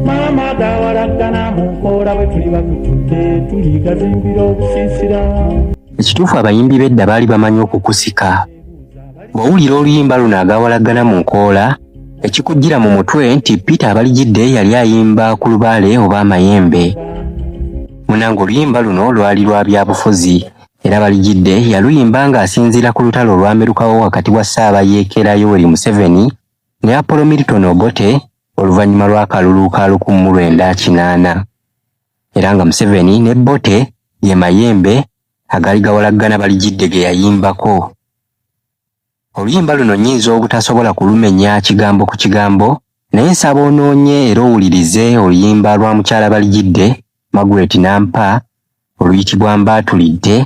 maama gawalaggana mu nkoola bwe tuli batututte tuli gazimbira okusiisira ekituufu abayimbi bedda baali bamanyi okukusika bw'owulira oluyimba luno agawalaggana mu nkoola ekikujjira mu mutwe nti peter abalijidde yali ayimba ku lubaale oba amayembe munanga oluyimba luno lwali lwa byabufuzi era balijidde yaluyimba ng'asinziira ku lutalo olwamerukawo wakati wa ssaabayeekera yoweri museveni ne apolo milton obote oluvannyuma lw'akalulu ka lukumi mu lwenda kinaana era nga Museveni ne Bote ye mayembe agaali gawalaggana balijidde ge yayimbako. Oluyimba luno nnyinza obutasobola kulumenya kigambo ku kigambo naye nsaba onoonye era owulirize oluyimba lwa mukyala Balijidde Margaret Nampa oluyitibwa Mbaatulidde